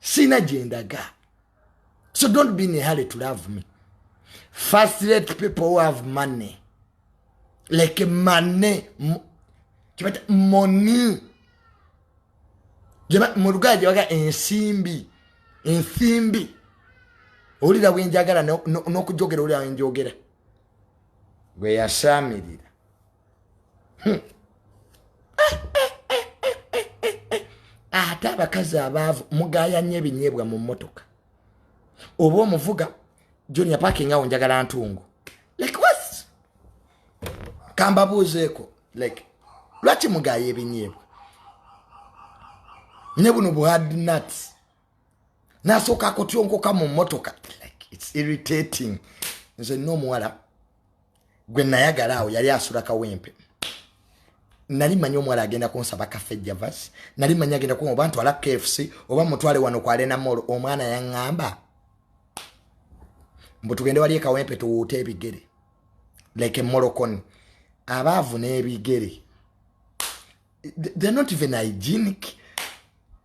sina gyendaga so don't be in a hurry to love me first let people who have money like money kibata money mu luganda gyebaga ensimbi ensimbi owulira bwenjagala n'okujogera owulira wenjogera gwe yasaamirira hmm. ate abakazi abaavu mugaya nnyo ebinyeebwa mu mmotoka oba omuvuga junior parking awo njagala ntungu like was kambabuuzeeko like lwaki mugaya ebinyeebwa ne buno buhard nuts nasooka akotyonkoka mu motoka like its irritating nze nina omuwala gwe nayagala awo yali asula kawempe nali manyi omuwala agenda kunsaba kafe javas nali manyi agenda ku oba ntwala kfc oba mutwale wano ku alena mall omwana yaŋŋamba mbu tugende wali ekawempe tuwuute ebigere like emolokoni abaavu n'ebigere they're not even hygienic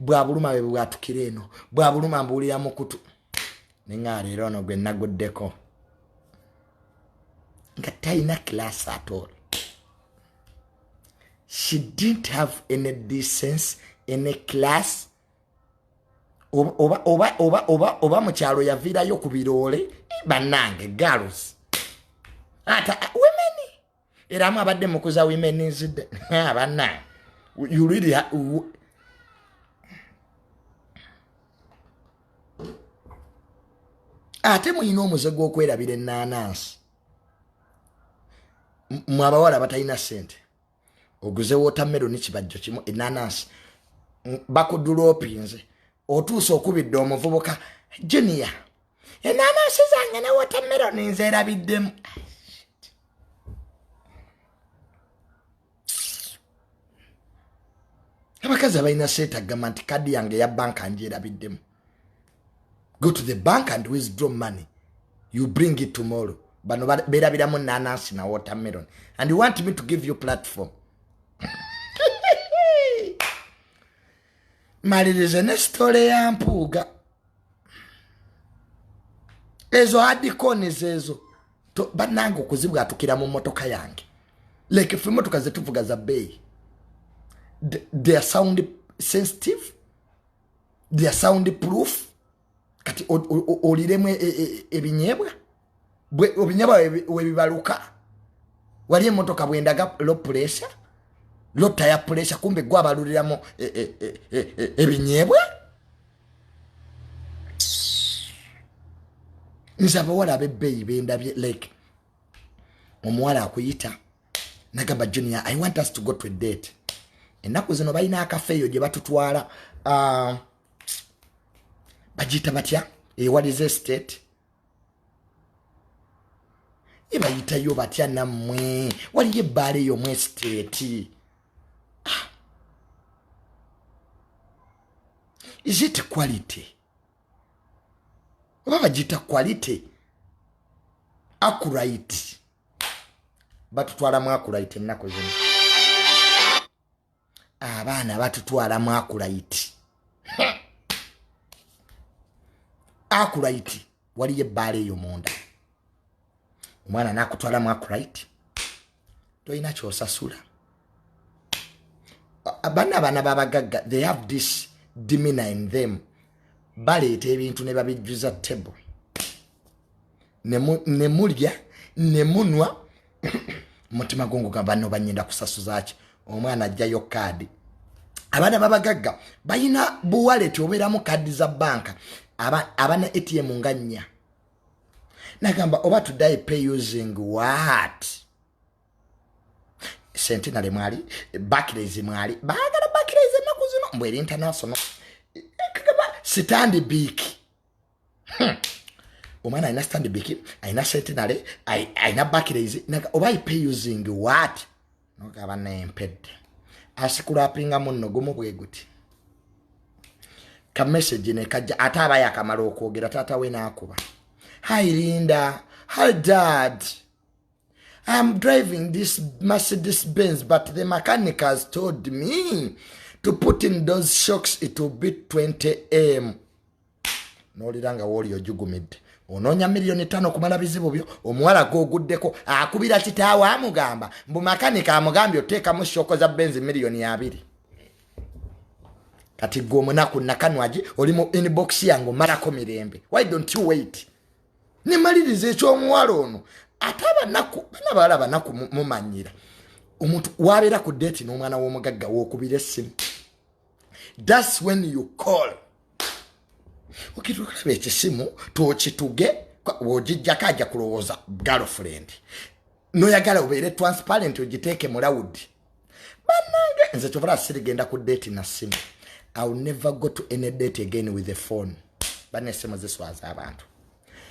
bwabuluma bwe bwatukira eno bwabuluma mbuulira mukutu neŋaleero ono gwe naguddeko nga talina kilasi atol she didn't have any decense any class oba oba oba oba oba mu kyalo yaviirayo ku biroole bannange girls ata wemeni era mu abadde mukuza women's day abanna ah, you really ha ate mulina omuze gw'okwerabira enaanansi mwe abawala abatalina sente oguze wotameroni kibajjo kimu enaanansi bakudula opinze otuusa okubidde omuvubuka junior enanasi zange ne watermelon nzerabiddemu abakazi abalina seeta agamba nti kadi yange ya banka njerabiddemu go to the bank and withdraw money you bring it tomorrow bano berabiramu nanansi na watermelon and you want me to give you platform malirize ne sitole ya mpuuga ezo adikoni zezo banange okuzibwatukira mu motoka yange like fe motoka zetuvuga za beeyi their sound sensitive their sound proof kati oliremu e, e, e, ebinyebwa obinyebwa webibaluka wali emotoka bwendaga lo pulesa lo taya pulesa kumbe gwe abaluliramu ebinyebwa nze abawala abebbeeyi bendabye like omuwala akuyita nagamba junior i want us to go to a date ennaku zino balina akafeeyo gye batutwala uh, bagiyita batya ewaliza estate ebayitayo batya nammwe waliyo ebbaala eyo mu estate ah. is it quality oba bagiyita quality akurite batutwalamu akurite ennaku zino abaana batutwala mu akulayiti akulayiti waliyo ebbaala eyo munda omwana nakutwala mu akulayiti tolina kyosasula bana abaana babagagga they have this dimina in them baleeta ebintu ne babijjuza table ne mulya ne munwa mutima gunguga banno banyenda kusasuzaki omwana ajjayo kaadi abaana babagagga balina buwaleti obeeramu kaadi za banka abana atm nga nnya nagamba oba tudae pay using wat sentinale mwali bakirezi mwali baagala bakirezi ennaku zino mbweri international sitandi biiki hmm. omwana alina standbik alina sentinary alina bakirais oba ipe using wat nogaba nempedde asikulapinga munno gumu bwe guti kamessage nekajja ate aba yakamala okwogera taata we nakuba hi linda hi dad iam driving this mercedes benz but the mechanic has told me to put in those shocks it will be 20 m nolira nga wooli ojugumidde onoonya miliyoni tano kumala bizibu byo omuwala gwoguddeko akubira kitaawo amugamba mbu makanika amugambye oteekamu shooko za benzi miliyoni abiri kati gwe omunaku nakanwagi oli mu inbox yange omalako mirembe why don't you wait nemaliriza ekyomuwala ono ate abanaku bana bawala banaku mumanyira omuntu wabeera ku deeti n'omwana w'omugagga wokubira essimu thats when you call okitulaba ekisimu twokituge wogijjako aja kulowooza girlfriend noyagala obeere transparent ogiteeke mu loud banange nze kyovula sirigenda ku date na simu iwill never go to any date again with the phone bana esimu ziswaza abantu